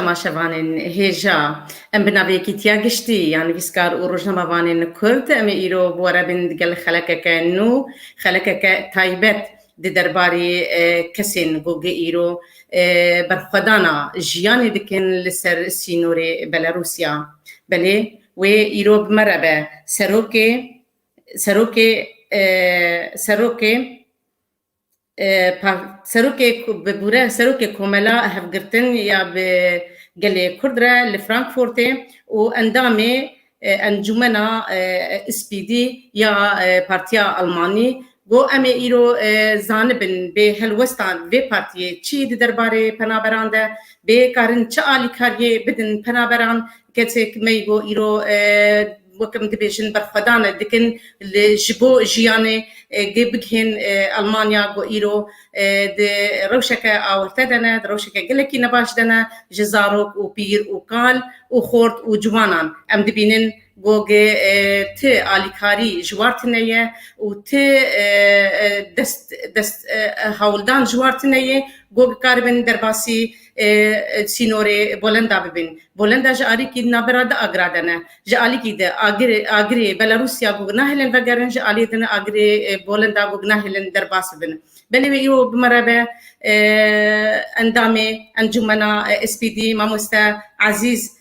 temaşevanên hêja em bi navê yekîtiya giştî ya nivîskar û rojnamevanên Kurd em ê îro bi we re bin digel xelekeke nû, xelekeke taybet di derbarê kesên ku gi îro berxwedana jiyanê dikin li ser sînorê Belarûsya. Belê Wê îro bi me re be serokê serokê serokê serokê bibûre serokê komela hevgirtin ya bi gelê Kurd re li Frankfurtê û endamê encûmena SPD ya partiya Almanî Ku em ê îro zanibin bê helwesta vê partiyê çi di derbarê penaberan de bê, karin çi alîkariyê bidin penaberan, kesek me îgo îro wek em dibêjin berxwedan dikin li ji bo jiyanê gê bigihên Elmanya ku îro di rewşeke awirte de ne, di rewşeke gelekî nebaş de ne, ji zarok û pîr û kal û xort û ciwanan em dibînin Gogê ti alîkarî ji war tine ye û ti dest dest hewldan ji war tine ye, gog dikaribin derbasî sînorê Bolenda bibin. Bolenda ji alîkî navbera di agira de ne. Ji alîkî di agirê agirê Belarûsya gog nahêlin vegerin, ji alî din agirê Bolenda gog nahêlin derbas bibin. Belê wê îro bimereve endamê encûmena SPD mamoste Ezîz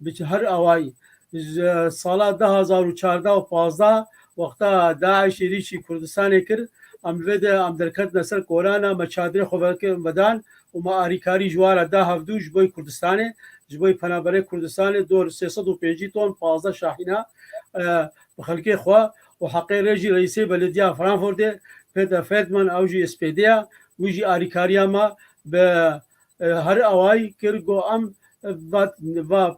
Bi her awayî ji sala du hezar û çardeh û pazdeh wexta DAIŞ êrîşî Kurdistanê kir, em li vê de em derketine ser kolana me çadirê xwe vedan û me arîkarî ji wan re da hevdu ji bo Kurdistanê, ji bo penaberê Kurdistanê dor sê sed û pêncî ton pazdeh şahîna bi xelkê xwe û heqê rê jî reîsê belediya Frankfurtê Peter Feldman ew jî SPD ya wî jî arîkariya me bi Her away kir ku em va va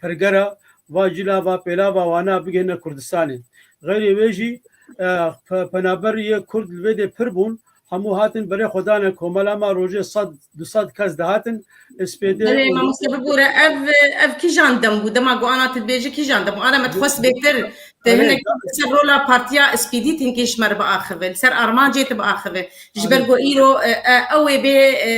pergera va cila va pêlava wana bigihîne Kurdistanê. Xeyrê wê jî penaber yê Kurd li vê dê pir bûn, hemû hatin berê xwe dane komela me rojê sed du sed kes dihatin SPD û Belê mamoste bibûre ev ev kîjan dem bû? Dema ku ana tu dibêjî kîjan dem bû? Ana me dixwest bêtir Te Elê, hinek tabii. ser rola partiya SPD têkê ji me re biaxivin, li ser armancê te biaxivin. Ji ber ku îro e, e, ew ê bê e,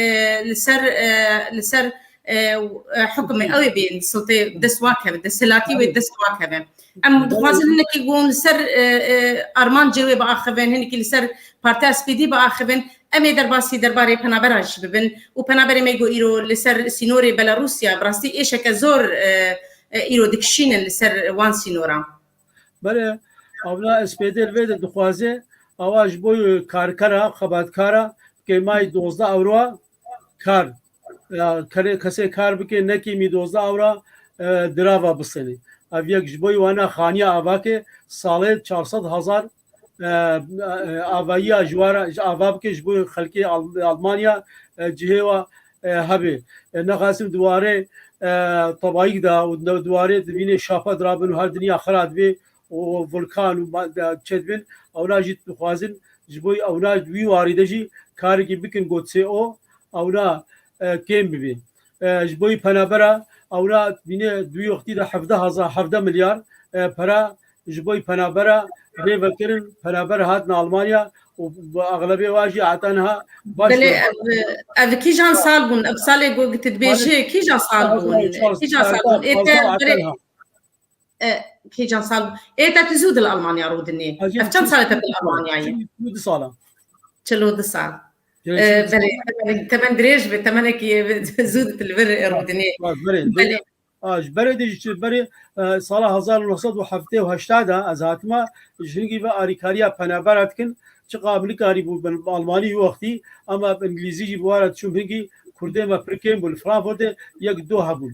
li ser e, li ser e, e, hukimê ew ê bê siltê dest wakeve, desthilatî wê dest wakeve. Em dixwazin hinekî gon li ser e, e, armancê wê biaxivin, hinekî li ser partiya SPD biaxivin. Em ê derbasî derbarê penabera jî bibin û penaberê me ku îro li ser sînorê Belarusya bi rastî êşeke zor e, Îro dikişînin li ser wan sînoran. Belê, Avna SPD li vê de dixwaze awa ji bo karkera, xebatkara kêmayî dozdeh ewroa kar kerê kesê kar bike ne kêmî dozdeh ewra dirava bistenê. Ev yek ji bo wana xaniya avakê salê çar sed hezar avayiya ji wan re ava bike ji bo xelkê Almanya cihê wa hebê. Nexasim diwarê tebayîk da û diwarê divînê şape dirabin û her dinya xira dibê û vulkan û çedibin ewna jî dixwazin ji bo ewna wî warî de jî karikî bikin got sê o ewna kêm bibê. Ji bo wî penabera ewra bîne du yoxtî de hevdeh hezar hevdeh milyar pere ji bo wî penabera rê vekirin. Penaber hatin Almanya û bi exlebê wan jî heta niha baş Belê ev ev kîjan sal bûn? Ev salê ku tu dibêjî kîjan sal bûn? Kîjan sal bûn? Ê te berê Kîjan sal ê te tu zû dil Almanya rû dinê ev çend sal te dil Almanyayê du sala çil û du sal belê temen dirêj bi temenekî zû di li vir rû dinê ji berê dê ji berê sala hezar neh sed û heftê û heşta de ez hatime ji hingî ve arîkariya penebera dikin çi qab nikarî bû bin Almanî wî wextî ama bi îngilîzî jî bi wara çûm hingî kurdê me pirkên bû li Frankfurtê yek du hebûn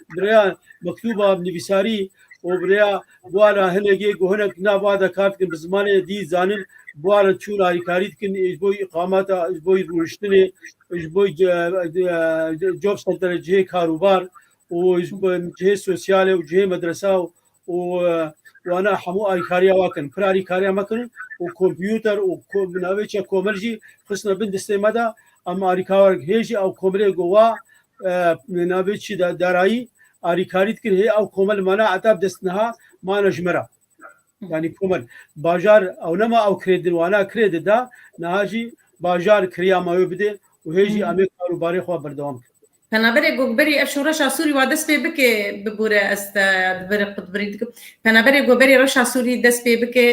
birêya mektûba nivîsarî û birêya buwana hinekê ku hinek nava de kar dikin bi zimanê dî zanin buwana çûn alîkarî dikin ji bo îqamata ji bo rûniştinê ji bo job centere cihê karûbar û cihê sosyalê û cihê medresa û wana hemû alîkariya wa kirin. Pir alîkariya me kirin û kompyûter û bi navê çek komil jî xistine bin distê me de em alîkar hê jî ew komilê ku wa bi navê çî de darayî alîkarî dikir hê ew komil mana eteb dest niha mane ji me re. Yani komil bajar ew nema ew kirê din wana kirê di da niha jî bajar kiriya me wê bidê û hê jî em ê karûbarê xwe berdewam kirin. Penaberê Goberî ev şoreşa Sûrî wa dest pê bike bibûre ez te divere xwe divirî dikim. Penaberê Goberî reşa Sûrî dest pê bike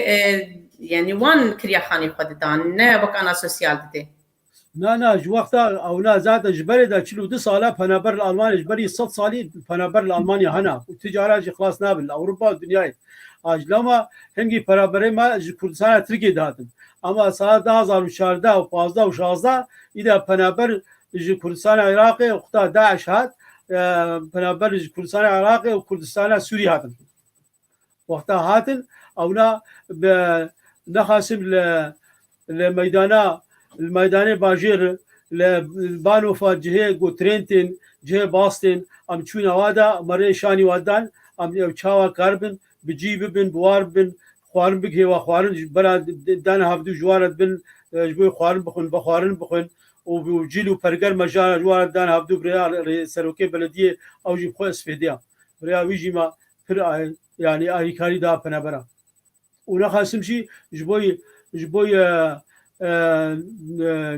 yanî wan kirya xanî xwe didan ne wek ana sosyal dide. Na na ji wexta ew na zaten ji berê de çil û du sal e penaber li Almanya ji berî sed salî penaber li Almanya hena û tu cara jî xilas nabin li Ewropa û dinyayê. A ji lama hingî penaberê me ji Kurdistana Tirkiyê dihatin. Ema sala du hezar û çardeh û pazdeh û şazdeh î de penaber ji Kurdistana Iraqê û xuda DAIŞ hat penaber ji Kurdistana Iraqê û Kurdistana Sûrî hatin. Wexta hatin ewna bi nexasim li li meydana li meydanê bajêr li banofa cihê ku trêntên cihê bastên em çûna wada merê şanî wadan em ew çawa kar bin bi cî bibin, bi war bibin, xwarin bik hêwa xwarin ji bera dane havdû ji wara dibin ji bo xwarin bixwin, be xwarin bixwin û cîl û perger me ji wara dane havdû bi rêya serokê belediyê ew jî bi xwe isfêdiya. Bi rêya wî jî me pir yanî alîkarî da penebera. Û nexasim jî ji bo ji bo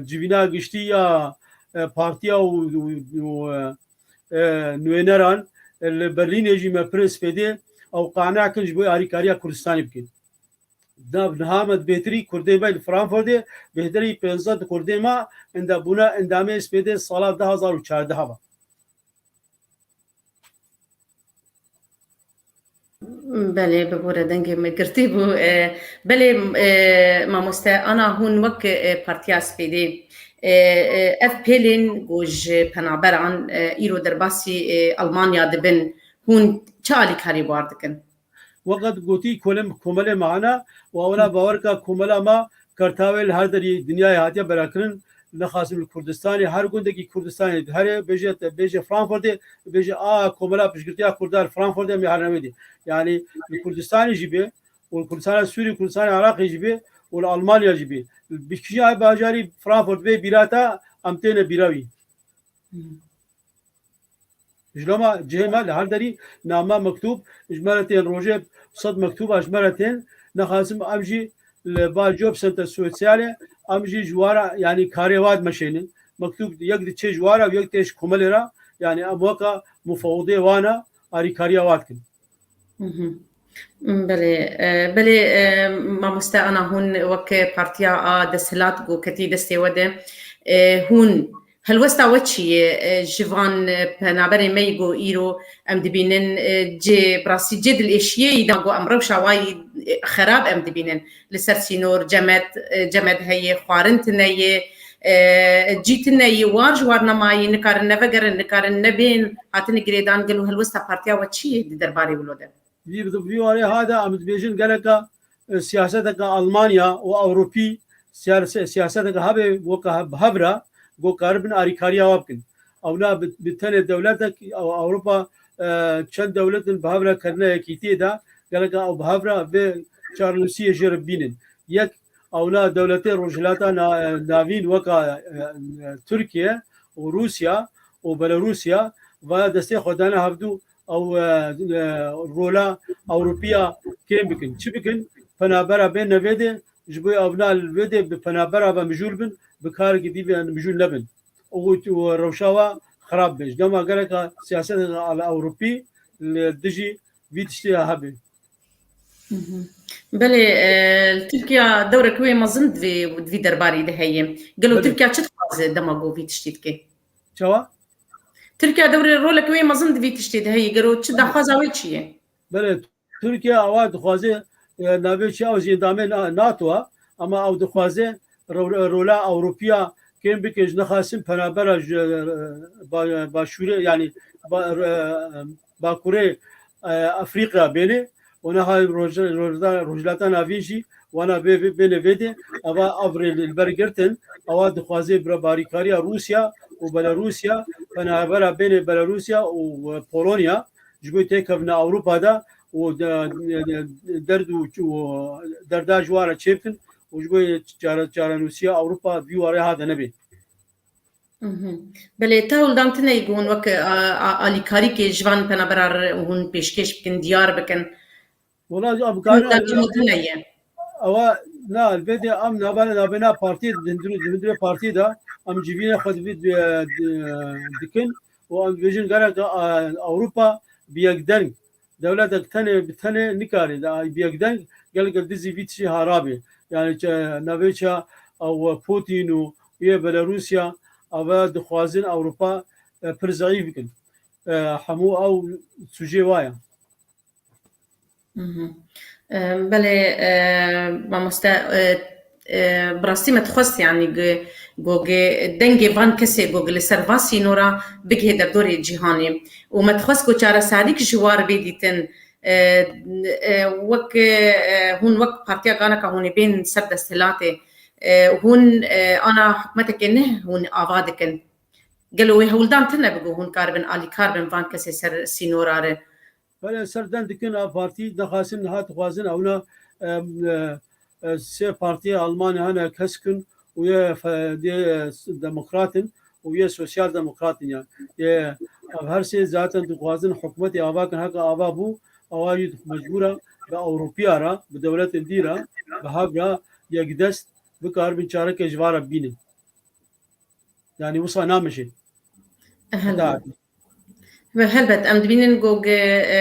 civîna giştî ya partiya û نوêneran li Berlînê jî me pirin spêdê ew qane kin ji bo alîkariya Kurdistanê bikin. Nav niha me di bêtirî Kurdê me li Frankfurtê bêhterî pênze di Kurdê me enda bûne endamê spêdê sala du hezar û çardeh ve. Belê bibûre dengê me girtî bû. Belê mamoste ana hûn wek Partiya Spîdê ev pêlên ku ji penaberan îro derbasî Elmanya dibin hûn çi alîkarî bar dikin? Weqet gotî kolem komelê me hene û ewla bawer ke komela me Kartawê li her derî dinyayê hatiye belakirin. Nexasim li Kurdistanê her gundekî Kurdistanê di herê bêje te bêje Frankfurtê û bêje a komela piştgirtiya Kurda li Frankfurt em ya her newêdî. Yanî li Kurdistanê jî bê û li Kurdistana Sûrî Kurdistana Iraqê jî bê û li Almanya jî bê. Bi kîjan bajarî Frankfurt bê bîra te em têne bîra wî. Ji loma cihê me li her derî name, mektûb ji me re tên, rojê sed mektûba ji me re tên. Nexwazim em jî li ba Job Center Sosyalê em jî ji wara yanî karê wa dimeşênin. Mektûb yek diçê ji wara û yek tê ji komelê re. Yanî em weka mufewidê wan e, alîkariya wa dikin. Belê belê mamoste ana hûn wek partiya a desthilat ku ketî destê we de hûn helwesta we çi ye ji van penaberê me yî ku îro em dibînin cê bi rastî cê dilêşiyeyî da ku em rewşa wayî xerab em dibînin Li ser sînor cemed, cemed heye, xwarin tune ye, cî tune ye, war ji war nema ye, nikarin nevegerin, nikarin nebên hatine girêdan. Gelo helwesta partiya we çi ye di derbarê wilo de? Vî bi vî warê ha de em dibêjin geleka siyaseteke Almanya û Ewropî siyaseteke hebê weke bi hev re ku karibin alîkariya we bikin. Ew ne bi tenê dewletek ew Ewropa çend dewlet in bi hev re kirine yekîtiyê de geleka ew bi hev re vê çarnusiyê jê re bînin. Yek ew ne dewletê Rojhilata Navîn weka Tirkiye û Rûsya û Belarûsya vaya destê xwe dane hevdu ew rola Ewropiya kêm bikin. Çi bikin? Penabera bên ne vê dê ji bo ew ne li vê dê bi penabera ve mijûl bin bi karekî dî ve mijûl nebin. Û tu rewşa we xirab be. Ji dema geleka siyasetê de li Ewropî li dijî vî tiştê ya hebê. Belê li Tirkiya dewreke wê mezin divê divî derbarî de heye. Gelo Tirkiya çi dixwaze dema ku vî tiştî dike? Çawa? Tirkiya dewrê roleke wê mezin divî tiştê de heye. Gelo çi daxwaza wê çi ye? Belê Tirkiye awa dixwaze navê çi ew jê dame NATO a ama ew dixwaze rola Ewropiya kêm bike ji nexasin penabera başûrê yanî bakurê Efrîqya bêne û neha Rojhilata Navî jî wana vê bêne vê dê eva ev rê li ber girtin ewa dixwaze barîkariya Rûsya û Belarûsya penabera bêne Belarûsya û Polonya ji bo têkevne Ewropa de û derd û derda ji wan re çêbikin û ji bo çarenûsiya Ewropa vî warê hate nebê. Belê te hûldan tune ku hûn wek alîkarîkê ji van penabera hûn pêşkêş bikin, diyar bikin. Wala ji avukar ewa na elbetê em navane navê na partiyê dindirû dimindire partiyê de em civîne xwe divî dikin û em dibêjin gereke Ewropa bi yekdeng dewletek tenê bi tenê nikarê bi yekdeng geleke dizî vî tişî harabê yani navê ça ew Putin û yê Belarusya ew dixwazin Ewropa pir zayîf bikin hemû ew sujê waya. Belê mamoste bi rastî me dixwest yanî gogê dengê van kesê gog li ser van sînora bigihê derdorê cîhanê û me dixwest ku çareserîk ji war bê dîtin wek hûn wek partiya galeka hûnê bên ser desthilatê hûn ana hikûmetekê ne hûn ava dikin gelo wê hewldan tune bi ku hûn karibin alîkar bin van kesê ser sînora re Belê ser dem dikin a partî dixwasin niha dixwazin ewna sê partî Almanya hene keskin û yê yê demokrat in û yê sosyal demokrat in yan yê ev her sê zaten dixwazin hikûmetê ava kin heke ava bû ewa yî mecbûr e bi ewropîya re bi dewletên dî re bi hev re yekdest bikaribin çareke ji va re bînin. Yani wisa namijin. Ve helbet em dibînin ku e, e,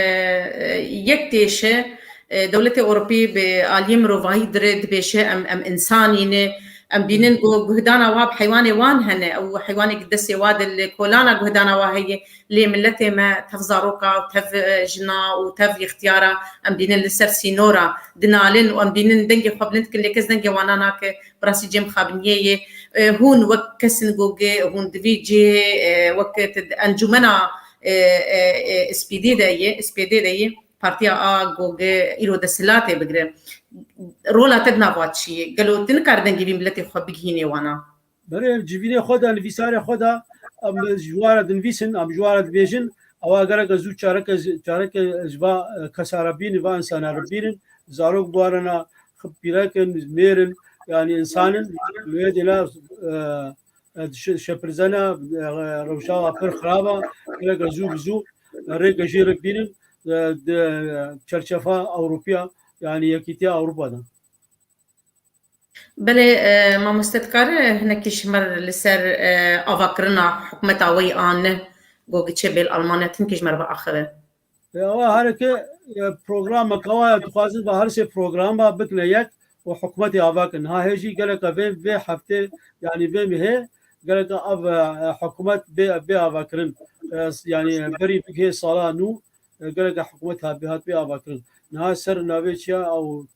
yek têşe e, dewletê Ewropî bi aliyê mirovahî dirê dibêşe em em însanîne em bînin ku guhdana wa bi heywanê wan hene ew heywanekî destê wa di li kolana guhdana wa heye lê miletê me tev zaroka û tev e, jina û tev ixtiyara em bînin li ser sînora dinalin û em bînin dengê xwe bilind dikin lê kes dengê wana nake Bi rastî cem xabiniyê yê hûn wek kesin gogê hûn di vî cihê wek ti di encûmena SPD de yê SPD de yê partiya a gogê îro desthilatê bigire rola te di nav a çi yê? Gelo ti nikare dengê vî miletê xwe bigihînê wana? Berê civînê xwe de nivîsarê xwe de em ji ware dinivîsin em ji ware dibêjin ewa gereke zû çareke çareke ji va kesare bînin va insana re bînin zarok biwarina Xipîreke mêrin yanî insanin wê dêla şepirzena rewşawa pir xiraba rêke zû bi zû rêke jê re bînin di çerçefa Ewropiya yanî Yekîtiya Ewropa de. Belê mamoste dikare hinekî ji mer li ser avakirina hikûmeta wê anne got giçê bêl Almanya timkî ji mer biaxive. Ewa hereke program kawaya dixwazin va her sê program va bikne yek û hikûmetê ava kin. Ha hê jî geleke vê vê heftê yanî vê mihê geleke av hikûmet bê bê avakirin. Yanî berî bigihê sala nû geleke hikûmet hat bê hat bê avakirin. Niha ser navê çiya ew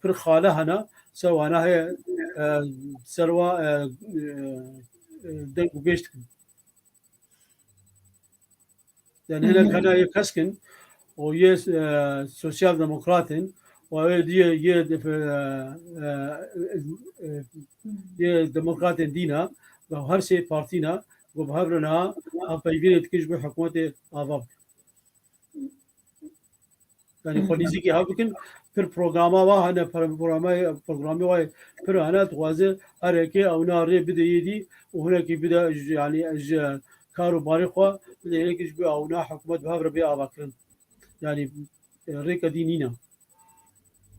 pir xale hene ser wana hê ser wa deng û bêj dikin. Yani hele kana yê keskin û yê sosyal demokratên û ew diye yê yê demokratên dîna bi her sê partîna got bi hev re niha ev peygirê dikin ji bo hikûmetê ava bikin. Yani xwe nêzîkî hev bikin pir programa wa hene programê wa pir hene dixwaze hereke ewna rê bide yêdî û hunekî bide yani ji kar û barê xwe bide yênekî ji bo ewna hikûmet bi hev re bê avakirin. Yani rêke dî nîne.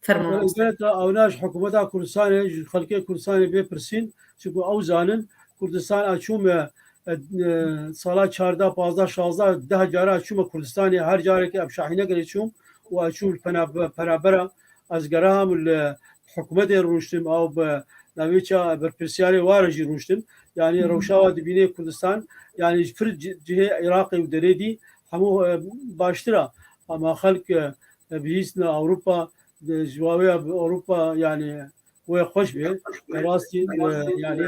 Fermûn. Hikûmeta Awnaş hikûmeta Kurdistanê ji xelkê Kurdistanê bê pirsîn çunku ew zanin Kurdistan a çûme sala çarda, pazda, şazda deh cara a çûme Kurdistanê her carekê em şahînekirê çûm û a çûm penabera ez geraha min li hikûmetê rûştim ew bi navê ça berpirsiyarê ware jî rûştim yanî rewşawa dibînê Kurdistan yanî ji fir cihê Iraqê û derê dî hemû baştira ama xelk Bihîstina Ewropa ji wawêya Ewropa yanî wê xweş bê. Rastî yanî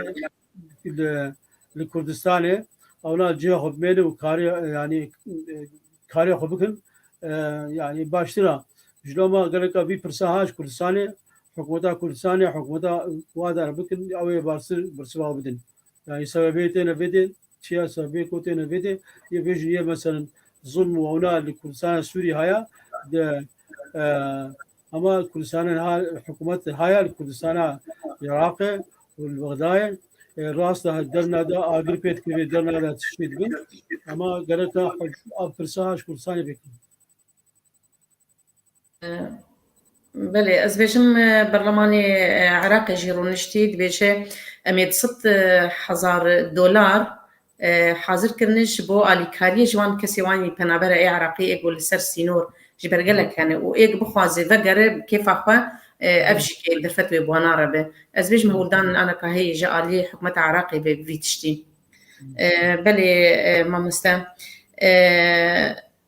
li Kurdistanê ewna cihê xwe bimêlin û karê yanî karê xwe bikin yanî baştir a. Ji loma geleka vî pirsa ha ji Kurdistanê hikûmeta Kurdistanê hikûmeta wada bikin ewê baştir birsiva bidin. Yani sebebê têne vê dê Çiya sa vê ku têne vê de yê vê jî yê meselin zulm û ewna li Kurdistana Sûrî haya de hema Kurdistanên ha hikûmet haya li Kurdistana Iraqê û li Bexdayê rast da derna de agir pê dikir vê derna de tiştê dibin hema gereka ev pirsa ha ji Kurdistanê bikin. Belê ez bêjim berlemanê Iraqê jî rûniştî dibêje em ê di sed hezar dolar hazir kirine ji bo alîkariyê ji wan kesê wan yî penabera ê Iraqê ê ku li ser sînor ji ber gelek hene û ê ku bixwaze vegere bi kêfa xwe ev jî kê derfet wê bi wan nare be. Ez bêjim hewldanên ana ka heye ji aliyê hikûmeta Iraqê be bi vî tiştî. Belê mamoste.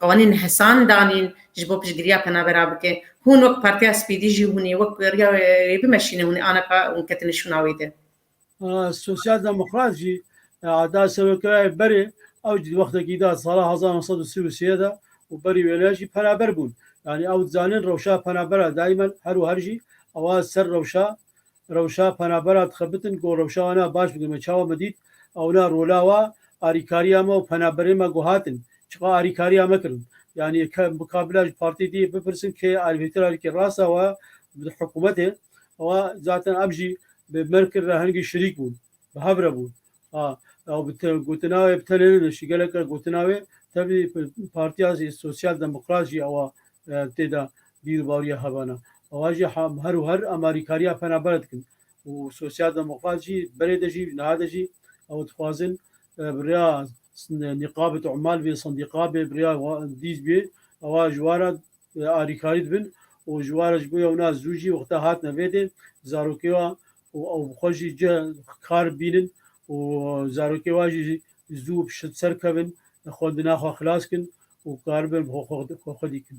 Anîn Hesan Danîn ji bo piştgiriya penabera bike. Hûn wek Partiya Spîdî jî hûn ê wek wêriya wê bimeşîne hûn ê aneka hûn ketine şûna wê de. Sosyal Demokrat jî ada Serokkerayê berê ew jî di wextekî da sala hezar neh sed û sî û sê de û berî wê ne jî penaber bûn. Yanî ew dizanîn rewşa penabera dayîmen her û her jî ewa ser rewşa Rewşa penaberan dixebitin ku rewşa wan a baş bikin me çawa me dît ew na rola wa arîkariya me û penaberên me ku hatin çiqa arîkariya me kirin yanî ke bi ka bila ji partiyê diyê bipirsin kê ye arîvêtira wî kê rast e wa di hikûmetê wa zaten ev jî bi Merkil re hingî şirîk bûn. Bi hev re bûn. A ew bi te gotina wê bi tenê nediş. Gelek re gotina wê tevlî partiya jî sosyal demokrat jî ewa tê de bîrûbariya hevana. Ewa jî her û her em alîkariya penaber dikin. Û sosyal demokrat jî berê de jî niha de jî ew dixwazin bi rêya nîqabê te mal bê, sendîqa bê, bi rêya dîz bê ewa ji wan re alîkarî dibin û ji war e ji bo ew na zû jî wexta hatine vê dê zarokê wa û ew bi xwe jî cih kar bibînin û zarokê wa jî zû bi şit serkevin xwe di naxwe xilas kin û karibin bi xwe xwedî kin.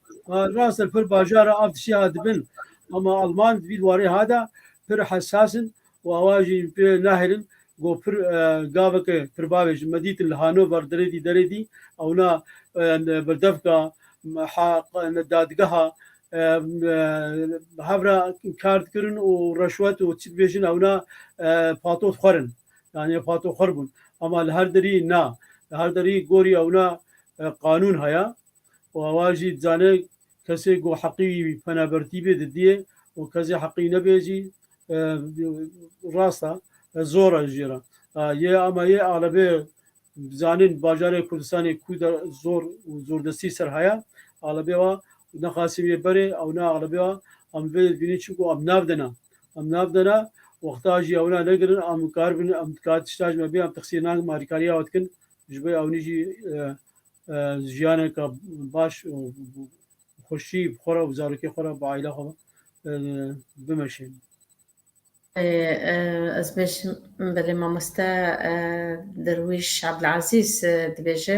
Rastır pır bajara av dişi ha dibin ama Alman dibîr warê ha de pir hesasın û awa jî pê nehirin got pir e, gaveke pirbavê ji me dîtin li Hanover derê dî derê dî ewna e, birdevka dadgeha e, hevra kar dikirin û reşwet û çi dibêjin ewna pato dixwerin yani pato xwer bûn ama li her derî na li her derî gorî ewna qanûn haya û awa jî dizane kesê ku heqî wî penabertî bê didiyê û kesê heqî nebê jî rast e zor e jê re. Yê ama yê alebê zanîn bajarê Kurdistanê ku de zor û zordestî ser heye alebê wa nexasî wê berê ew ne alebê wa em vê bînîn çimku em nav de ne. Em nav de ne wexta jî ew na negirin em karibin em dikare tişta ji me bê em tixsî nakin em alîkariya we dikin ji bo ewnî jî jiyaneke baş û xweşî bi xwe re û zarokê xwe re bi aîla xwe bimeşin. Ez bêjim belê mamoste Derwîş Abdulazîz dibêje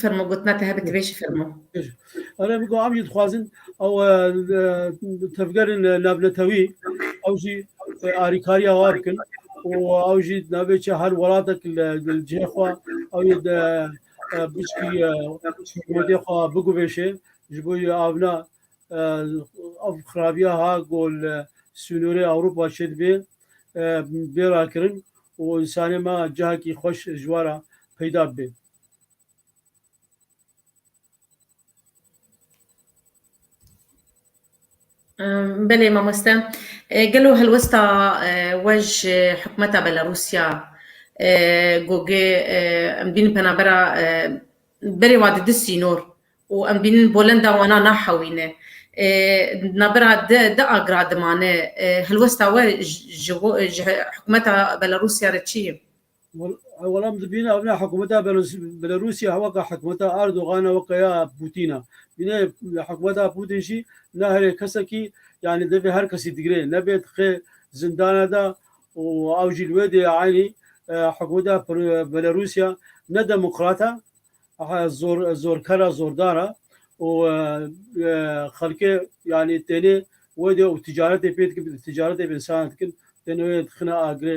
Fermo gotina te hebe tibêjî fermo. Ere bi am jî dixwazin ew tevgerên navnetewî ew jî arîkariya wa bikin û ew jî navê çi her welatek li cihê xwe ew yê de biçkî godê xwe biguvêşê ji bo avna ev xirabiya ha ku li sînorê Ewropa çê dibê bê rakirin û însanê me cihekî xweş ji we re peyda bibe. Belê mamoste, gelo helwesta we ji hikûmeta Belarûsya goge em dibînin penabera berê wan di du sînor û em dibînin bolenda wan nahewîne di navbera du agra dimane helwesta we ji hikûmeta Belarûsya re çi ye? Welam dibîne ew ne hikûmeta Belarûsya weke hikûmeta Erdogana weke ya Pûtîna. Bîne hikûmeta Pûtîn jî ne herê kesekî yanî divê her kesî digirê nebê dixê zindana de û ew jî li wê dê eynî hikûmeta Belarûsya ne demokrat e zor zorker e zordar e û xelkê yanî tenê wê dê û ticaretê pê dikin ticaretê bi insana dikin tenê wê dixine agirê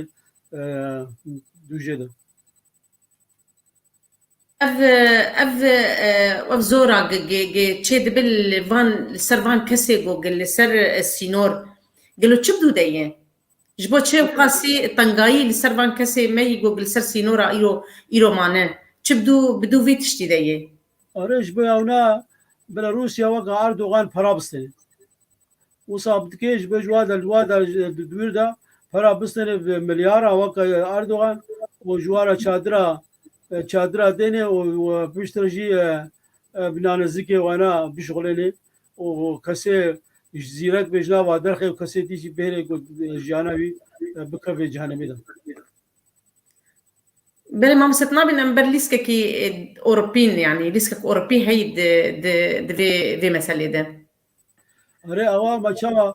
دوجه de. Ev ev ev zora çê dibe li van li ser van kesê ku gel li ser sînor gelo çi bidû de ye? Ji bo çi qasî tengayî li ser van kesê me yî ku li ser sînora îro îro mane çi bidû bidû vê tiştî de ye? Are ji bo ya wina bila Rûsya weka Erdogan para bistîne. Wisa bi tikê ji bo ji wa de li wa de di dûr de para bistêne bi milyara weka Erdogan û ji wa re çadira çadira dêne û piştre jî bi nanezikê wana bişixulêne û kesê ji zîrek bê ji nava derxê û kesê dî jî bêrê ku jiyana wî bikevê cehenemê de. Belê mam set nabîn em ber lîskekî Ewropîn yanî lîskek Ewropî heyî di di di vê vê meselê de. Arê awa ma çawa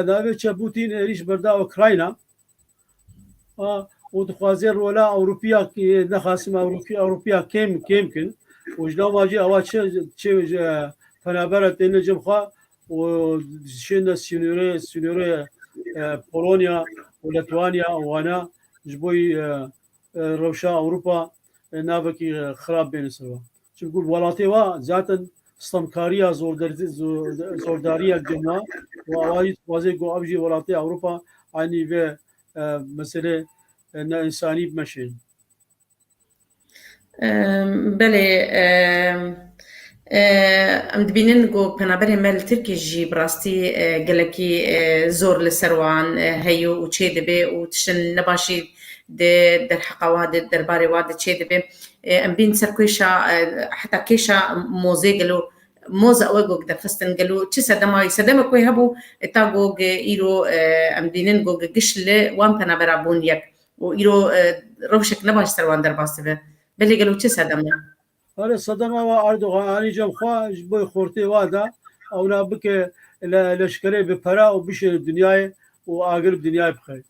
navê çe Putin êrîş berda Ukrayna û dixwazê rola Ewropiya nexasim Ewropiya Ewropiya kêm kêm kin û ji lava jî awa çi çi penabera têne cem xwe û şêne sînorê sînorê Polonya û Litwanya wana ji bo rewşa Ewropa navekî xirab bêne serwan. Çimkû bi welatê wa zaten stemkariya zordariya gema û awa jî dixwazê ku ev jî welatê Ewropa aynî vê meselê neinsanî bimeşin. Belê em dibînin ku penaberên me li Tirkiyê jî bi rastî gelekî zor li ser wan heye û çêdibe û tiştên nebaş jî di derheqa wan de derbarê wan de çêdibe. Em bên ser kêşa heta kêşa mozê gelo moz ew e gog derxistin gelo çi sedema wî sedemek wê hebû ta gog îro em bînin gog giş li wan penabera bûn yek û îro rewşek ne baş ser wan derbas dibe. Belê gelo çi sedem e? Are sedema wa Erdogan anî cem xwe ji bo xortê wa da ewna bike leşkerê bi pera û bişêne dinyayê û agir bi dinyayê bixê.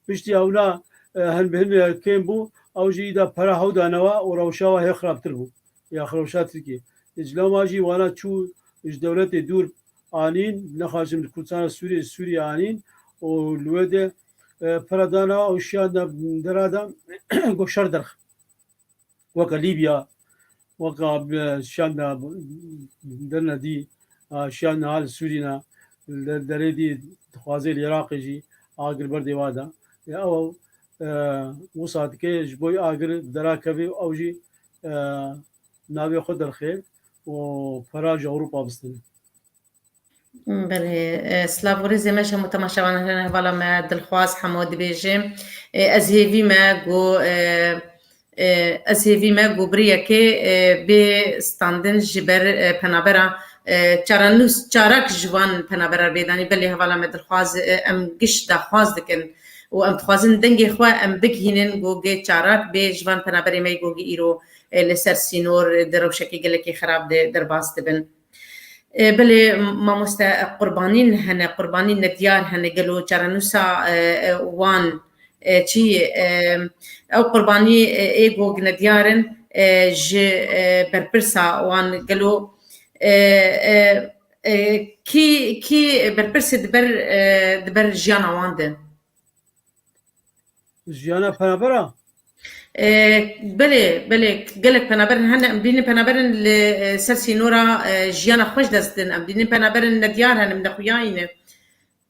Piştî ewna hin bi hin kêm bû, ew jî îda pera hew da newa û rewşa wan hê xirabtir bû. Ya rewşa Tirkiyê. Diclama jî wana çû ji dewletê dûr anîn, nexwazin li Kurdistana Sûriyê ji Sûriyê anîn û li wê de pera da newa û şiyan da dera de ku şer derxist. وeka Lîbya weka şiyan de derine dî şiyan niha li Sûrî ne li derê dî dixwazê li Iraqê jî agir ber dêwa de ew wisa dike ji bo agir dera kevê û ew jî navê xwe derxê û para ji Ewropa bistîne. Belê silav û rêzê me ji hemû temaşevanan re hevala me Dilxwaz Hemo dibêjim ez hêvî me ku ez hêvî me ku birî yekê bê standin ji ber penaberan çaran nû çarak ji wan penaberan bê danîn belê hevala me Dilxwaz em giş daxwaz dikin û em dixwazin dengê xwe em bigihînin ku gê çarak bê ji van penaberê me ku îro li ser sînor di rewşekê gelekî xerab de derbas dibin. Belê mamoste qurbanîn hene, qurbanîn ne diyar hene gelo çarenûsa wan çi yê? Ew qurbanî ê ku ne diyar in ji berpirsa wan gelo kî kî berpirsê di ber di ber jiyana wan de? Jiyana penaber a? Belê belê gelek penaberin hene em bînin penaberin li ser sînora jiyana xweş dest din em bînin penaberin nediyar hene min nexuyayîne.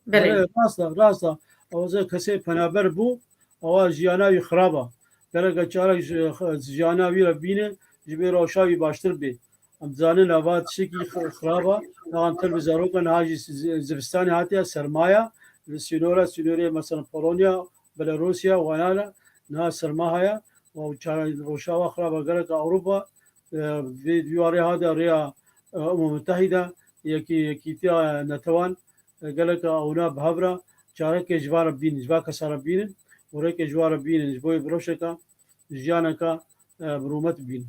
Belê. Rasta rasta ewaze kesê penaber bû ewa jiyana wî xirab a. Gereke çarek jiyana wî re bîne ji bê rewşa wî baştir bê. Em dizanin ava tiştekî xirab a. Niha tev bi zarokan niha jî zivistanê hatiye sermaya li sînora sînorê mesela Polonya, Belarusya wanan e. Niha serma heye û çaran rojava xirab e geleka Ewropa vê vî warê hate rêya Umma Mutehîde yekî yekîtiya netewan geleka ewna bi hev re çarekê ji van re bînin ji van kesa re bînin û rêkê ji wan re bînin ji bo rewşeke jiyaneke bi rûmet bînin.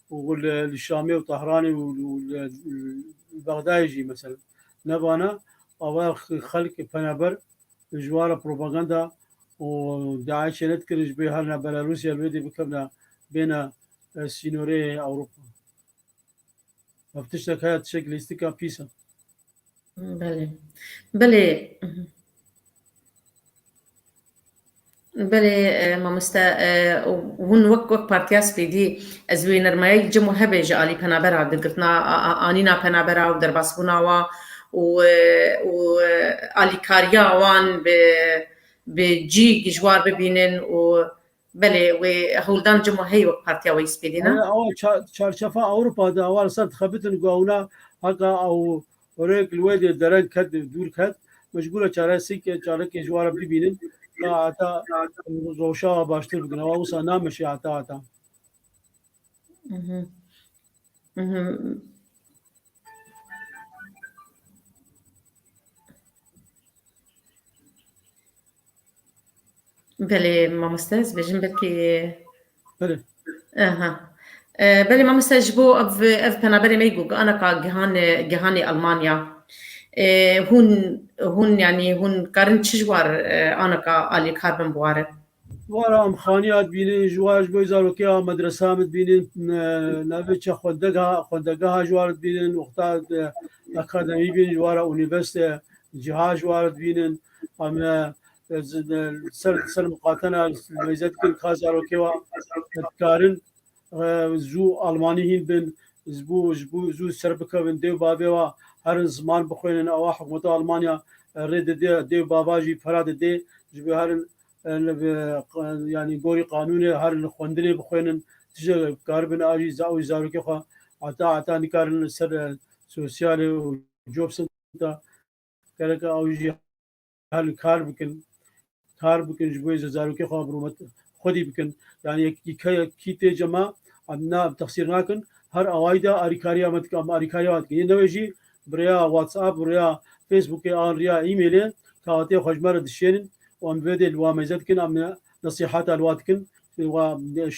û li Şamê û Tahranê û li Bexdayê jî mesela nevana ava xelk pena ber ji wara propaganda û DAIŞ'ê nedikirine ji bê herina Belarusya li wê dê bikevina bêhna sînorê Ewropa. Ev tiştek heye tişek lîstika pîs e. Belê. Belê. Belê mamoste hûn wek wek partiya spêdî ez wê nermeyek cim û hebê ji alî penabera girgirtina anîna penabera û derbasbûna wan û û alîkariya wan bi bi cî gijwar bibînin û Belê wê hewldan cima heye wek partiya wê spêdî ne? Awa çarçefa Ewropa de awa li ser dixebitin ku ewna heka ew rêk li wê dê dereng ket dûr ket me ji bo re çaresik çarekê ji ware bibînin ka heta roşawa baştir bikin ewa wisa nameşe heta heta. Belê mamoste ez bêjim belkî Belê. aha. E, Belê mamoste ji bo ev ev penaberê me got ana ka gihanê gihanê Almanya. E, Hûn hûn yanî hûn karin çi ji war e, ana ka alîkar bin bi warin? Wara em xaniya dibînin, ji war ji bo zarokê a medresa min dibînin, navê çi xwendegeha xwendegeha ji war dibînin, wexta akademî bînin ji wara unîveste ciha ji war dibînin. em ser ser miqatena meyzet kin ka zarokê wa dikarin zû almanî hîn bin ji bo ji bo zû ser bikevin dêw bavê wa herin ziman bixwênin ewa hikûmeta Almanya rê didê dêw bava jî pera didê ji bo herin yanî gorî qanûnê herin xwendinê bixwênin tije karibin a jî za û zarokê xwe heta heta nikarin li ser sosyalê û job senta Gerek e ew jî hel kar bikin. Kar bikin ji bo zarokê xwe birûmet xwedî bikin. Yani yekî ke kî tê cema em na texsîr nakin. Her awayî de alîkariya me dike. Em alîkariya wan dikin. Yê newê jî bi rêya WhatsApp, bi rêya Facebookê an rêya emailê kaxetiyê xwe ji me re dişêrin û em bi vê dê li wan mêze dikin. Em nesîheta li wan dikin. Wa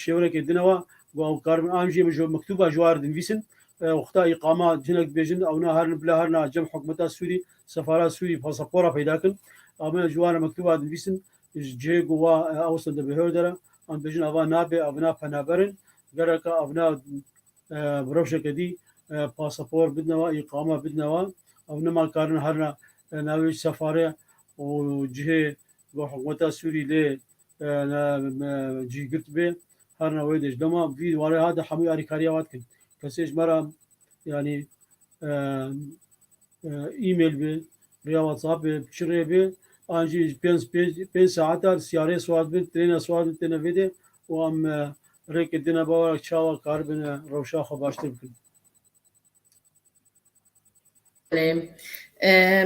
şêwirekê dine we. Got ew kar bin. An jî min ji miktûba ji wan re dinivîsin. Wexta îqama cinek dibêjin ewna herin bila herin a cem hikûmeta Sûrî, sefara Sûrî pasapora peyda bikin. Amina ji wan re mektuba dinivîsin ji cihê ku wa ew sende bi hewr dere. Em dibêjin ava nabe, evina penaber in. Gereka evina bi rewşeke dî pasapor bidine wan, îqama bidine wan. Ew nema karin herina navê sefarê û cihê ku hikûmeta Sûrî lê جی girt bê her ne wê dê ji dema vî warê hat de hemû alîkariya wat kin. Kesê ji me re yanî email bê, rêya WhatsApp bê, çi rê bê an jî ji pênc pênc pênc saetar siyarê swar bin, trêne swar bin têne vê dê û em rêkê dine bawek çawa karibin rewşa xwe baştir bikin.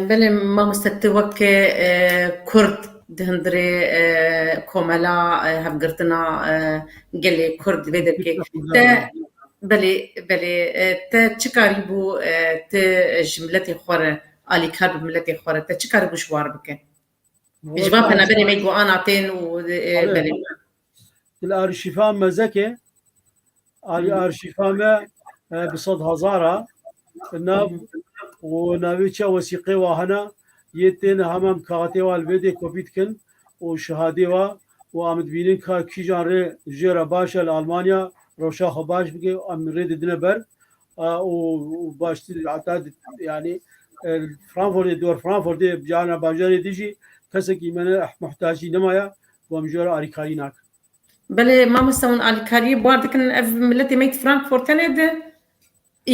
Belê mamoste tu wek kurd di hundirê komela hevgirtina gelê kurd vê derkê te belê belê te çi karîbû tu ji miletê xwe re alîkar bi miletê xwe re te çi karîbû ji wan re bike ji van penaberên me ku ana tên û belê. Bila arîşîfa mezeke Arşîfa me bi sed hezar a nav û navêçiya wesîqê wa hene yê tên hamam kaxetê wa li vê dê kopî dikin û şihadê wa û amitbînin ka kîjan rê jê re baş e li Almanya rewşa xwe baş bike em rê didine ber û baştir heta yanî Frankfurtê dor Frankfurtê cana bajarê dijî kesekî me ne muhtacî nemaye ku em jê re arîkarî nakin. Belê mamosta hûn alîkariyê bar dikin ev miletê me yî di Frankfurt tenê de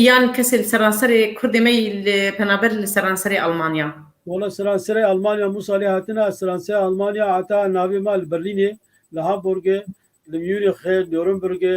yan kesê li seranserê kurdê me yî li penaber li seranserê Almanya? Wala seranserê Almanya Musa lê hatine ez seranserê Almanya heta navê me li Berlînê li Hamburgê li Mûnîxê Nûrnburgê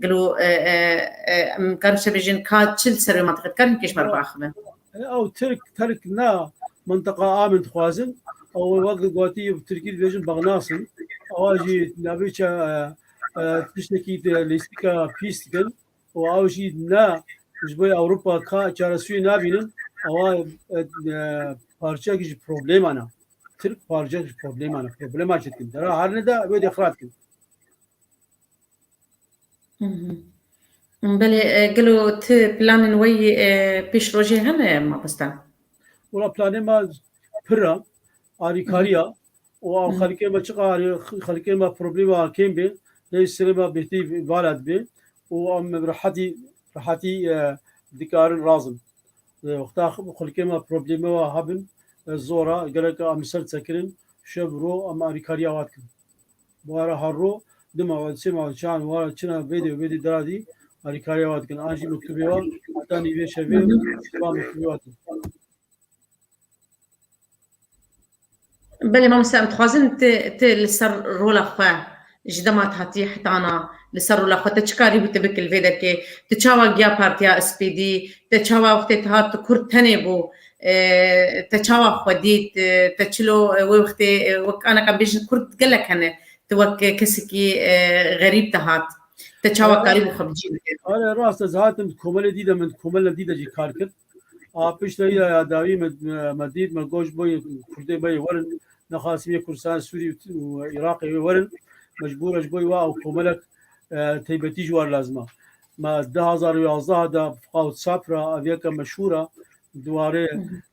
Gelo em karin bi şevê jin ka çil ser wê mentiqê dikarin bi kêşmer biaxivin. Ew Tirk Terk na mentiqa amin dixwazin. Ew wek li gotî bi Tirkî dibêjin bexnasin. Ewa jî navêça tiştekî lîstika pîs dikin û ew jî ne ji bo Ewropa ka çaresûyê nabînin. Ewa parçeyekî ji probleman e. Tirk parçeyekî ji probleman e. Problema çi dikin? Dera her nida wê dê xira dikin. Belê gelo tu planên we yê pêşrojê hene mamosta? Wala planê me pir e, alîkariya û xelkê me çiqa xelkê me problema kêm bê lê serê me bêhtî baled bê û em bi rehetî rehetî dikarin razin. Wexta xelkê me problema hebin zor e gelek em li ser sekirin şev roj em alîkariya we dikin. Buhara Harro, du mal û sê mal çan wara çina vêdê û vêdî dira dî alîkariya wa dikin an jî miktubê wa heta nîvê şevê û şeva miktubê wa tê. Belê mamoste em dixwazin te li ser rola xwe ji dema te hatiyê hetana li ser rola xwe te çi karî bû te bikî li vê derkê? Tu çawa giya partiya SPD? Te çawa wextê te hat tu kurd tenê bû Te çawa xwe dît? Te çilo wê wextê wek anek em bêjin kurd gelek hene tu wek kesekî xerîb te hat. Te çawa karî bû xwe bi cî bike? Are rast ez hatim di komelê dî de min di komelê dî de jî kar kir. A pişta îra ya dawî me dît me goş boyê kurdê beyê werin nexasî yê Kurdistanê Sûrî û Iraqê wê werin mecbûr e ji bo wê ew komelek teybetî ji war lazim e. Me du hezar û yazdeh de Fouad Sapra ev yeka meşhûr a di warê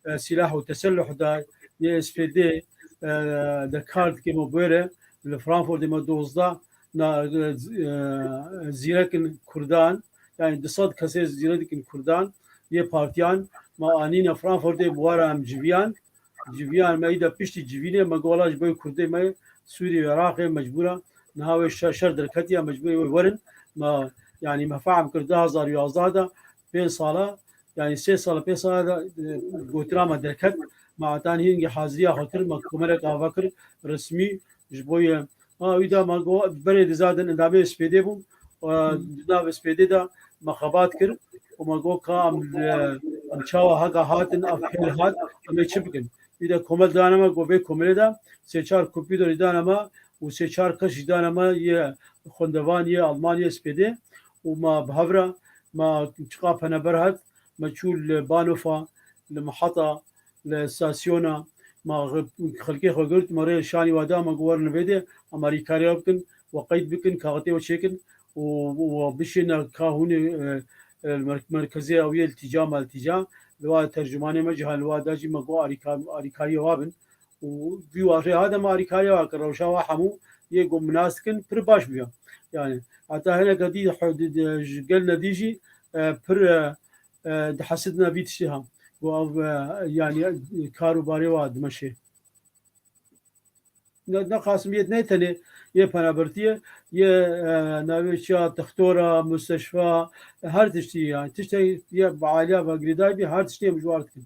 e, sîlah û teselluh de yê SPD e, de kar dike me bûê re li Frankfurtê me dozdeh na e, e, zîrekin Kurdan yani du sed kesê zîrekin Kurdan yê partiyan me anîne Frankfurtê bi wara em civiyan Civîyan me îda piştî civînê me gola ji bo Kurdê me Sûrî û Iraqê mecbûra niha wê şer derketiya mecbûrê wê werin me yanî me fehm kir du hezar û yazdeh de pênc sala yanî sê sala pênc sala de gotina me derket me etan hîngî haziriya xwe kir me komelek ava kir resmî ji bo Ma wî da ma got berê diza din endamê spêdê bûm û di navê spêdê de me xebat kir û ma got ka em em çawa hega hatin ev hêl hat em ê çi bikin. Wî de komel dane me got vê komelê de sê çar kompîter jî dane me û sê çar kes jî dane me yê xwendevan yê alman yê spêdê û ma bi hev re ma çiqapene ber hat me çû li Banofa li Mihata Li stasyona ma xelkê xwe girt, ma rê li şanî we da, ma got werin li vê de amarîkarê we bikin, we qeyd bikin, kaxetê we çêkin û we bişêne ka hûn ê li merkezê ewiyê li tîca ma li tîca. Li wa tercumanê me jî ha li wa da jî ma got arîkariyê we bin û vî wa rê ha de ma arîkariyê we kir. Rewşa we hemû yê ku em nas dikin pir baş bûye. Yanî heta hineke dî ji gel nedî jî pir Di hesidina vî tiştê ha û ev yanî kar û barê wa dimeşê. Ne qasim yê ne tenê yê penabertiye yê navê çiya textora, musteşfa her tiştî yani tiştê ye bi aliya ve girêdayî bî her tiştê em ji war dikin.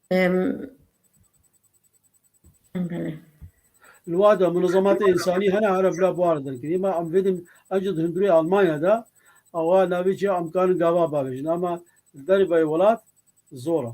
Li wa de munezematê însanî hene here bila buar derkirî. Ma em vêdin eci di hundirê Almanya de awa navê çi em karin gava bavêjin ama li derê veyê welat zor e.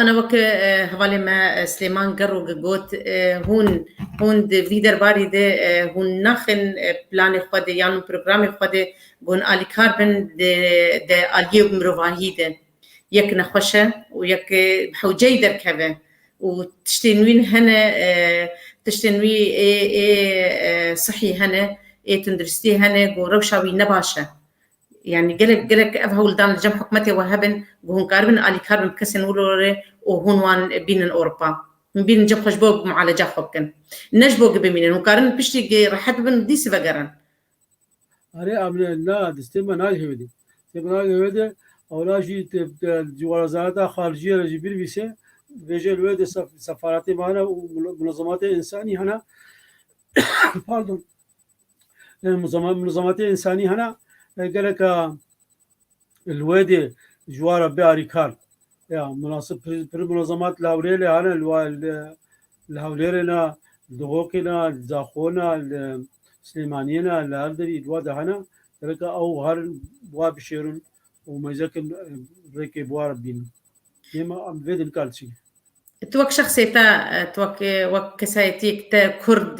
Ana weke hevalê me Silêman Gerogê got, hûn hûn di vî derbarî de hûn naxin planê xwe de yan programê xwe de ku hûn alîkar bin di de aliyê mirovahî de yek nexweş e û yek bi hewceyî derkeve û tiştên wî hene tiştên wî ê ê sihî hene ê tunduristî hene ku rewşa wî ne baş e Yani gelek gelek ev hewldan li cem hikûmetê we hebin ku hûn karibin alîkar bin bi kesên wilo re û hûn wan bînin Ewropa. Hûn bînin cem xwe ji bo mualeca xwe bikin. Ne ji bo ku bimînin. Hûn karin piştî rehet bibin û dîsî vegerin. Erê Emine, na, di stêma nayê Hêvêdê. Stêma nayê Hêvêdê, ewla jî di werzareta xarijiyê re jî binivîse, bêje li wê de sefaretê me hene û munezematê însanî hene. Pardon. Muzamatiya însanî hene geleka li wê dê ji wan re biarî kar. Ya munasib pirî muzamat li hewlêrê lê hene li li hewlêrê ne li Dihokê ne li Zaxo ne li Silêmaniyê ne li her derî li wa de hene geleka ew herin bi wa bişêrin û mêzekin rêkê bi wa re bînin. Êma em vê dê nikar çi Tu wek şexsê te tu wek wek kesayetiyek te kurd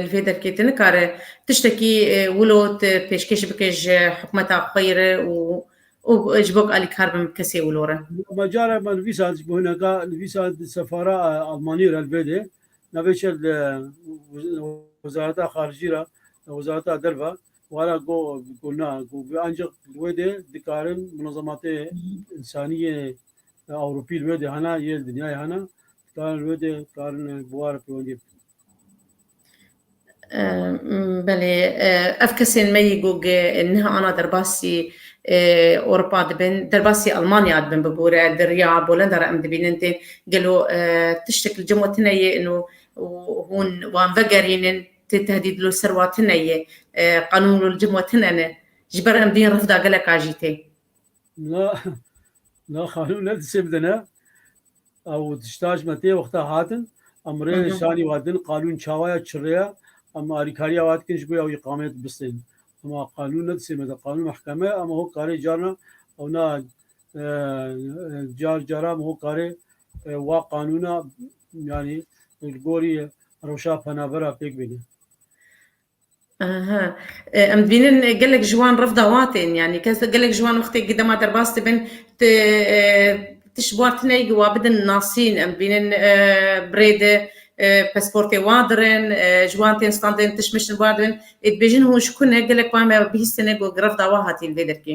li vê derkê tu nikare tiştekî wilo tu pêşkêş bike ji hikûmeta xwe re û û ji bo alîkar bin bi kesê wilo re. Ma cara ma li vîsa ji bo hineka li vîsa di sefara Almanî re li vê de navê çe li wezareta xarijî re wezareta derve wara go go na go ancak li wê de dikarin munazematê insaniyê Ewropî li wê de hene, yê li dinyayê hene, dikarin li wê de karin buwar pêwendiyê bikin. Belê, ev kesên me yî ku niha ana derbasî Ewropa dibin, derbasî Almanya dibin bibûre, di riya bolenda re em dibînin tên, gelo tiştek li cem we tune yê û hûn wan vegerînin, tê tehdîd li ser wan tune yê, qanûn li cem we tune ne, ji ber em duyên rifda geleka jî tê. Na na xanûm ne dişê bide ne. Ew tiştaş me tê wexta hatin. Em rê şanî watin qanûn çawaya çirreya em alîkariya wat kin ji bo ew îqamet bistên. Ema qanûn ne dişê me de qanûn mehkeme em ho karê carna ew na car cara em ho karê wa qanûna yanî li gorî rewşa penabera pêk bêne. Em dibînin gelek ji wan rev da wa tên yanî kes gelek ji wan wextê ku dema derbas dibin tu tu ji wan tuneyê ku wa bidin nasîn em dibînin bi rê de pasportê wa dirin ji wan tên standin tişt mişt wan dibin ê dibêjin hûn ji ku ne gelek wan me bihîstin ku rev da wa hatîn vê derkê.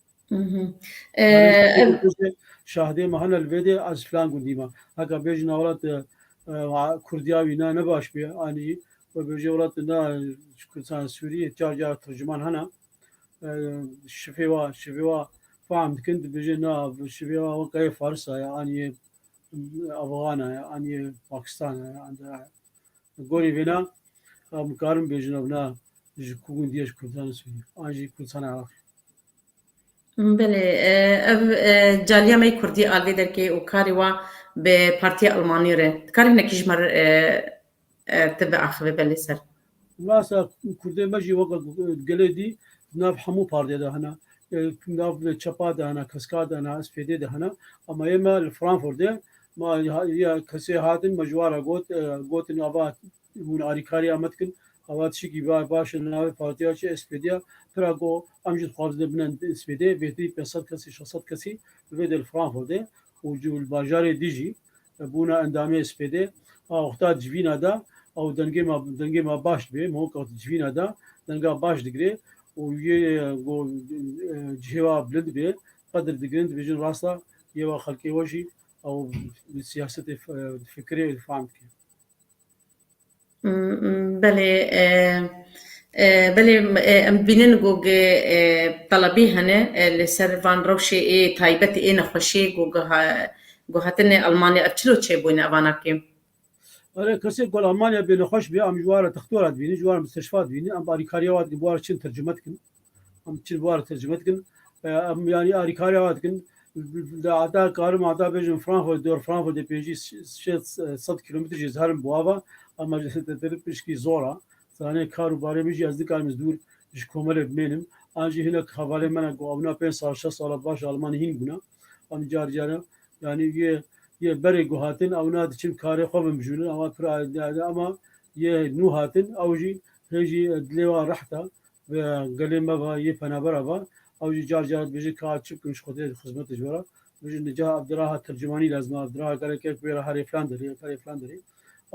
Şahdê mahana li vêdê ez filan gundî ma. Heka bêjin welat Kurdiya wî ne ne baş bê anî we bêjê welat ne Kurdistan Sûriyê car car tercüman hene şifê wa şifê wa fahm dikin dibêjê ne şifê wa we kayê farisa ya anî Afgana ya anî Pakistan ya anî gorî vêna em karin bêjin ev ne ji ku gundiyê ji Kurdistan Sûriyê an jî Kurdistan Iraqê. Belê, ev caliya me yê kurdî a li vê derkê û karê wan bi partiya Elmanî re. Dikare hinekî ji me re te biaxive belê ser. Rast e, kurdên me jî weke gelê dî di nav hemû partiyê de hene. Di nav çepa de hene, kesika de hene, SPD de hene. Ama yê me li Frankfurtê ma ya kesê hatin me ji wan re got, gotin ava Hûn alîkariya me dikin. Ava tişikî baş e li navê partiya çi SPDya. Pira ku em jî dixwazin dê bine SPDyê bêtirî pênc sed kesî, şeş sed kesî bi vê dê li Frankfurtê û li bajarê dî jî bûna endamê SPDyê. A wexta civîna de ew dengê me dengê me baş dibê. Min wek got civîna de denga baş digirê û yê ku cihê we bilind bê qedir digirin dibêjin rasta yê we xelkê we jî ew siyasetê difikirê û difam dike. Belê belê em dibînin ku telebî hene li ser van rewşê ê taybet ê nexweşê ku hatine Elmanya ev çilo çêbûne ev ana kêm? Belê kesê ku li Elmanya bê nexweş bê em ji wan re textor dibînin ji wan re mistişfa dibînin em alîkariya wan dikin bi wan re çin tercume dikin. Em çi war tercüme dikin. Em yani arîkarê ava dikin. Li ada karim ada bêjin Frankfurt dor Frankfurt dê pêncî şêst sed kilometre jî zerim bu ava ama ji teteri pişkî zor a. Zanê kar û barê min jî ez nikarim ez dûr ji komelê bimênim. An jî hinek hevalê min e ku ewna pênc sal şeş sala baş Almanî hîn bûna. Em car care yani yê yê berê ku hatin ewna diçin karê xwe bimjûnin ewa pir ama yê nû hatin ew jî hê jî dilê wan reht e. Gelê me va yê penabera va, ew jî car car dibêje ka ez çi bikim ji Xwedê di xizmeta ji we re. Dibêje nica Abdiraha tercûmanî lazim e, Abdiraha gelek e ku wê re herê filan derê ya karê filan derê.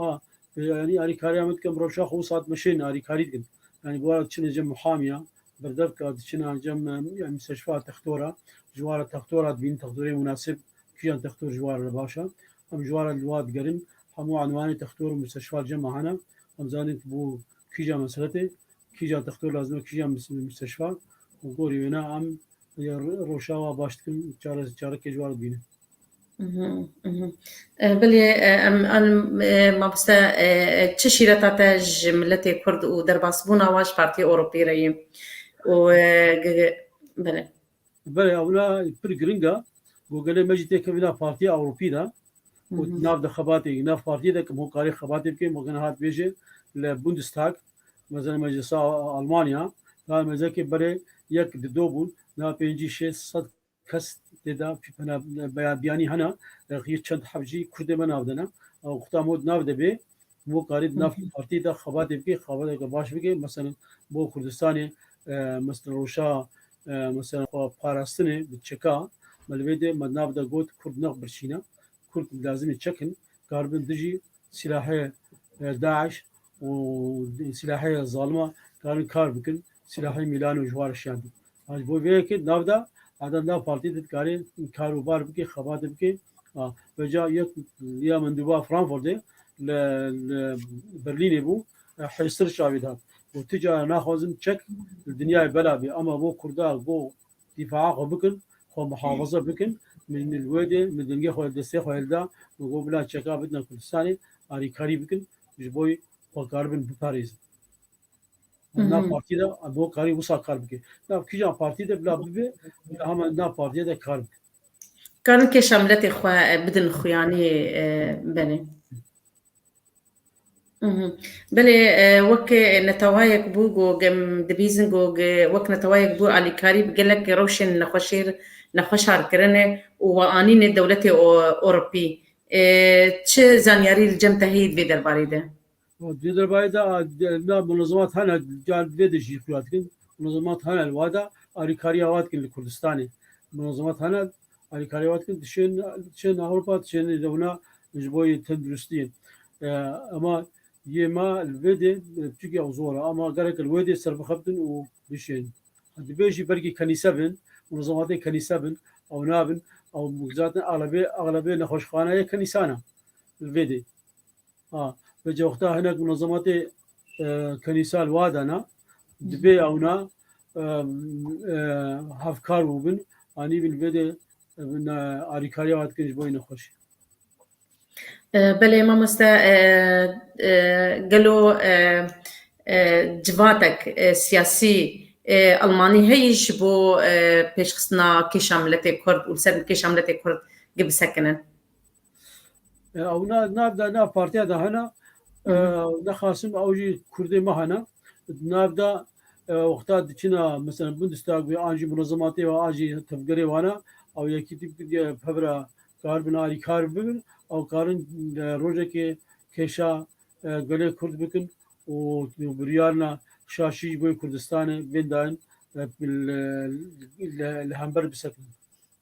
A yanî alîkariya min dikim rewşa xwe sat meşê ne alîkarî dikim. Yanî bi wara diçin encam muhamiya, berdevka diçin encam yanî müsteşfa textora, ji wara textora dibînin textorê munasib, kîjan textor ji wara li baş e. Em ji wara li wa digerin hemû enwanê textor û müsteşfa li cem a hene. Em zanin ku bo kîjan meseletê Kîja dextor lazim e, kîja müsteşfa û gorî wêne em ya roşawa baş dikin çare çarekê ji war bînin. Bilê em an mabiste çi şîreta te ji miletê Kurd û derbasbûna wan ji Partiyê Ewropî re yê û bilê. Belê ewna pir giring e bo gelê me jî tê kevîna Partiyê Ewropî de û nav de xebatê nav partiyê de kim hokarê xebatê bikin bo gena hat bêje li Bundestag Mezin Meclisa Almanya navê mezekê berê yek di do bûn, navê pêncî şê sed kes tê de penabeya biyanî hene, rexî çend heft jî kurdê me nav dene. Ew xuda mod nav de bê bo karî di nav partî de xebatê bikê, xebateke baş bikê. Meselan bo Kurdistanê meselan roşa meselan xwe parastinê bi çeka me li vê dê me di nav de got kurd nex birçîne, kurd lazimê çek in, karibin dijî Silahê DAIŞ û silahê zalima karin kar bikin, silahê mîlanê û ji wan re şer bin. A ji bo vê yekê nav da eda nav partiyê de dikarê kar û bar bike, xebatê bike. A bi ca yek ya min dûba Frankfurtê li li Berlînê bû hêstir çavê dat. Got tu cara naxwazim çek li dinyayê bela bê ama bo kurda bo Dîfaa xwe bikin, xwe muhafaza bikin. Min li wê dê min dengê xwe li destê xwe hilda. Min got bila çeka bitina Kurdistanê alîkarî bikin ji bo wê xwe karibin biparêzin. Em nav partiyê de em bo karî wisa kar bike. Nav kîjan partiyê de bila bibe bila hema nav partiyê de kar bike. Karin kêşa miletê xwe bidin xuyanî belê. Belê wek netewayek bû ku em dibîzin ku wek netewayek bû alîkarî bi gelek rewşên nexweşêr nexweşar kirine û we anîne dewletê Ewropî. Çi zanyarî li cem te heye di vê derbarê de? Di vê derbarê de na munezemat hene car di vê de jî xuya dikin. Munezemat hene li wada alîkariya wan dikin li Kurdistanê. Munezemat hene Alîkarê wat kir dişên dişên Ewropa dişên li wina ji bo yê tenduristiyê. Ema yê me li vê dê piçikî ew zor e ema gelek li wê dê serbixebtin û bişên. Dibê jî belkî kenîse bin, munezzematên kenîse bin, ew nabin, ew zaten eglebê eglebê nexweşxane yê kenîsan e li vê dê. Ha, ve cewxta hinek munazamatê kenîsal wa dana dibê ewna hevkar û bin anî bin vê de alîkariya wa dikin ji bo nexweşî. Belê mamoste gelo civatek siyasî Almanî heyî ji bo pêşxistina kêşa miletê Kurd û li ser kêşa miletê Kurd gibisekinin? Ew na nav da nav partiya da hena nexasim ew jî Kurdê me hena nav da wexta diçina mesela Bundestag wê an jî munezematê ve an jî tevgerê wana ew yekî tîp pevra kar bin arî kar bibin ew karin rojekê kêşa gelê Kurd bikin û biryarna şaşî ji bo Kurdistanê bên dayin li hember bisetin.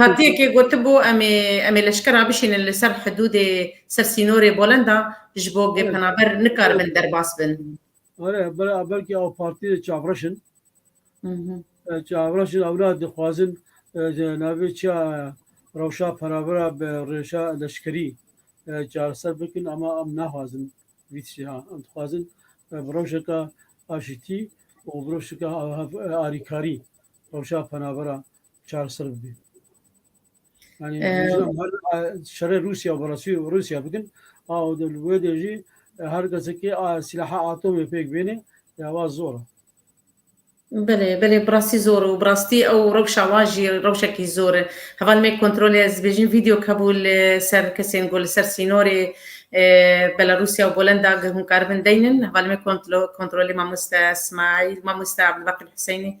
Partiyekê gotibû em ê leşkera bişînin li ser hidûdê ser sînorê Bolenda ji bo gê penaber nikaribin derbas bin. Were bela belkî ew partiyê çavreş in. Çavreş in ew ne dixwazin di navê çiya rewşa penabera bi rêşa leşkerî çareser bikin ama em naxwazin vî tiştê ha. Em dixwazin bi rewşeke aşitî û bi rewşeke alîkarî rewşa penabera çareser bibî. Yani ee, şerê Rusya û Rusya û Rusya bikin a û li wê de jî e, her kesekî silaha atomê pêk bêne ya wa zor e. Belê belê bi rastî zor û bi rastî ew rewşa wan jî rewşekî zor e. Heva me kontrolê ez bêjin vîdeo kebû li ser kesên ku li ser sînorê e, Belarusya û Polenda ge hûn karibin deynin. Heva me kontrolê mamoste Smaîl, mamoste Abdulbaqîr Huseyinî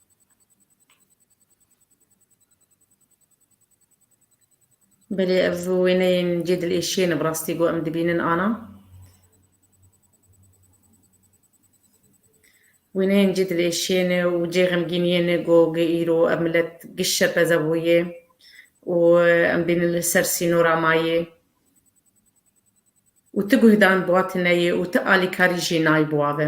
Belê ev wêneyên cê dilêşiyê ne bi rastî ku em dibînin ana. Wêneyên cê dilêşiyê ne û cê xemgîniyê ne ku gi îro ev milet giş şerpeze bûye û em bînin li ser sînora ma yê û ti guhdan bûa tune yê û ti alîkarî jî nayê bûa ve.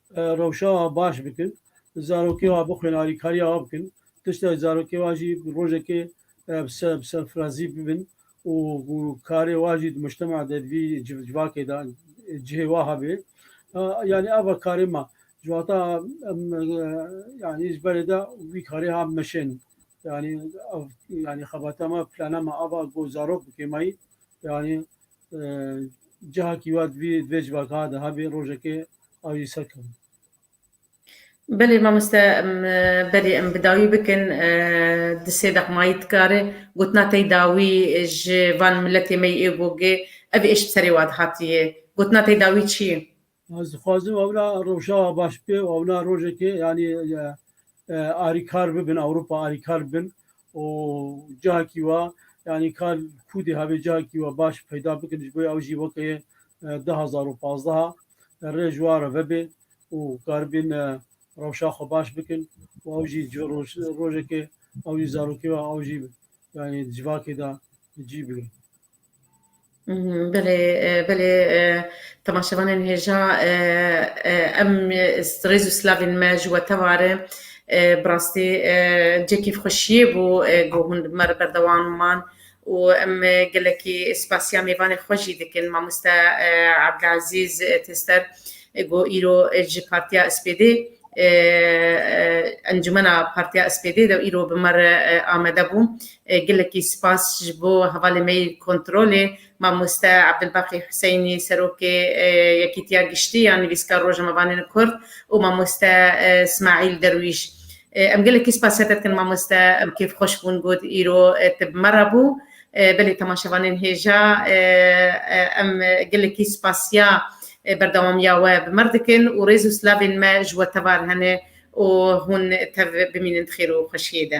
rewşa wan baş bikin, zarokê wan bixwin, alîkariya wan bikin, tişta zarokê wan jî rojekê bi serfirazî bibin û karê wan jî di mujtemea de di vî civakê de cihê wan hebe. Yanî ev e karê me. Ji wata em yanî ji berê de vî karê ha meşên yanî ev yanî xebata me, plana me ev e ku zarok bikêmeyî yanî Cihakî wa divê di vê civaka de hebê rojekê ew jî ser kevin. Belê mamoste belê em bi dawî bikin di sê deqmayî dikare gotina tey dawî ji van miletê me yî ê gogê ev êş bi serê wa dihatiye gotina tey dawî çi ye? Ez dixwazim ewna rewşa wa baş be ewna rojekê yanî Arîkar bibin Ewropa arîkar bibin û cihakî wa yanî kar kûdê havê cihakî wa baş peyda bikin ji bo ew jî weke du hezar û pazdeh rê ji wa re vebê û karibin rewşa xwe baş bikin û ew jî rojekê ew jî zarokê wa ew jî yanî civakê de bi cî bigrin. Belê belê temaşevanên hêja em rêz û silavên me ji we tewar e. Bi rastî cihekî xweşiyê bû ku hûn li me re berdewam man û em gelekî spasiya mêvanê xwe jî dikin mamoste Ebdilezîz Tester ku îro ji Partiya SPD Encûmena Partiya SPD de îro bi me re amade bû. Gelekî spas ji bo hevalê me yê kontrolê. Mamoste Abdulbaqî Huseynî Serokê Yekîtiya Giştî ya Nivîskar Rojnamevanên Kurd û Mamoste Smaîl Derwîş. Em gelekî spasîya te dikin mamoste. Em kêfxweş bûn got îro te bi me re bû. Belê temaşevanên hêja em gelekî spasîya berdewamiya we bi me re dikin û rêz û silavên me ji we tevar hene û hûn tev bimînin di xêr û xweşiyê de.